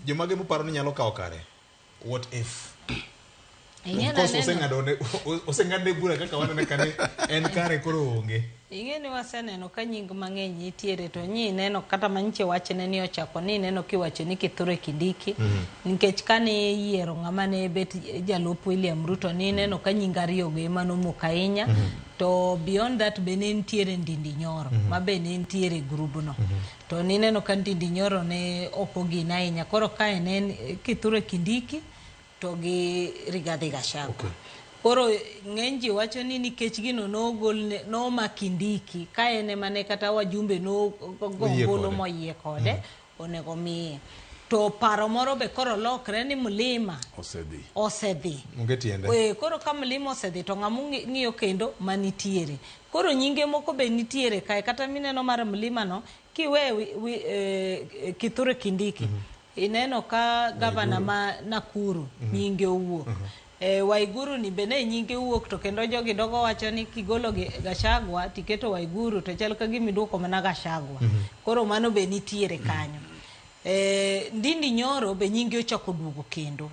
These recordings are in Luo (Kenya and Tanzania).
Jomage muparo ni nyalo kawo kare? What if? Ing'e Of course, naneno- oseng'ado ne- o- oseng'ad ne bura kaka wanene ka ni en kare koro onge. ing'e ni waseneno ka nying mang'eny nitiere to nyi neno kata manyiche wachne ni ochako ni neno kiwacho ni kithure kindiki nikech kane iyiero ng'ama ne bet jalup william ruto ni neno ka nying ariyogo ema nomok ahinya to beyond that be ne nitiere ndindi nyoro ma be ne nitiere e grubno To nineno ka ndindi nyoro ne ok ogin ahinya. Koro kae ne en Kithure Kindiki to gi Rigathi Gachagua. Okay. Koro ng'eny ji wacho ni nikech gino nogol ne- noma Kindiki ka en ema ne kata wajumbe Oyie nogolo kode. moyie kode onego miye. To paro moro be koro lokre ni Mlima Osedhi. osedhi. Onge tiende. Eh, koro ka Mlima osedhi to ng'ama ung'i- ng'iyo kendo manitiere. Koro nyinge moko be nitiere kae kata mineno mar mlima no kiwe wi, wi, eh, kithure kindiki mm -hmm. ineno ka gavana ma nakuru mm -hmm. nyinge owuok mm -hmm. eh, waiguru ni be ne nyinge wuok to kendo jogi dogo wacho ni kigolo gashagwa tiketo waiguru to chal ka gimi duoko mana gashagwa mm -hmm. koro mano be nitiere kanyo mm -hmm. eh, ndindi nyoro be nyinge ochako duogo kendo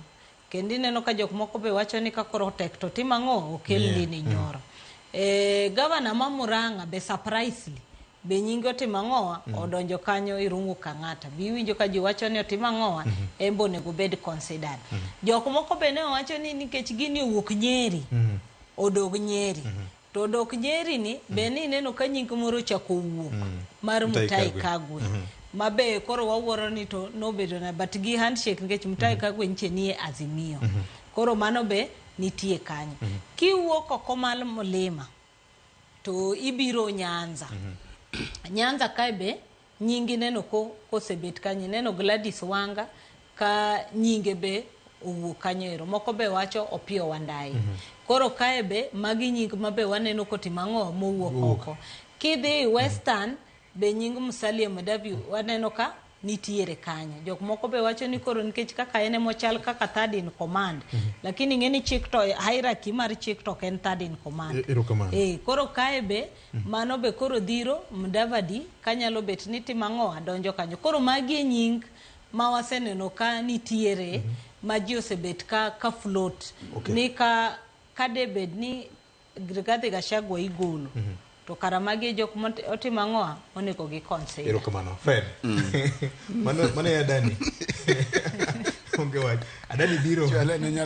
Kendo ineno ka jok moko be wacho ni ka koro tek to tim ang'o okel yeah. lini nyoro. Mm. E, gavana ma Murang'a be surprisely be nyinge otimo ang'owa mm. odonjo kanyo Irungu Kang'ata be iwinjo ka ji wacho ni otimo ang'owa mm -hmm. embe onego obed considered mm -hmm. jok moko be ne owacho ni nikech gini owuok Nyeri mm -hmm. odog Nyeri mm -hmm. To dok Jerry ni mm. be ni ineno ka nying moro ochako wuok mm. mar Mutai Kagwe. Mm -hmm. Mabe koro wawuoro ni to nobedo na but gi handshake nikech Mutai mm -hmm. Kagwe nche nie Azimio. Mm -hmm. Koro mano be nitie kanyo. Mm -hmm. Kiwuok oko mal Mulima to ibiro Nyanza. Mm -hmm. Nyanza kae be Nyingi ineno ko, kosebet kanyo. Ineno Gladys Wanga ka nyinge be owuok kanyo ero. Moko be wacho Opiyo Wandayi. Mm -hmm. Koro kae be magi nying ma be waneno kotimo ang'o mowuok uh. oko. Kidhi mhm. Western mm -hmm. be nying Musalia Madavi waneno ka nitiere kanyo. Jok moko be wacho ni koro nikech kaka en emochal kaka third in command. Mm -hmm. Lakini ing'e ni chik to hierarchy mar chik to en third in command. E, e, e, koro kae be Mano be koro dhiro Mdavadi ka nyalo bet ni tim ang'o adonjo kanyo. Koro magi e nying ma waseneno ka nitiere ma ji osebet ka, ka float Okay. ni ka, ka de bed ni Rigathi Gachagua igolo to kara magi e jok motimo ang'o onego gi consider. Erokamano. Fred. Mano mano ya Dani. Onge wach. Adani biro. Chwale ne nyara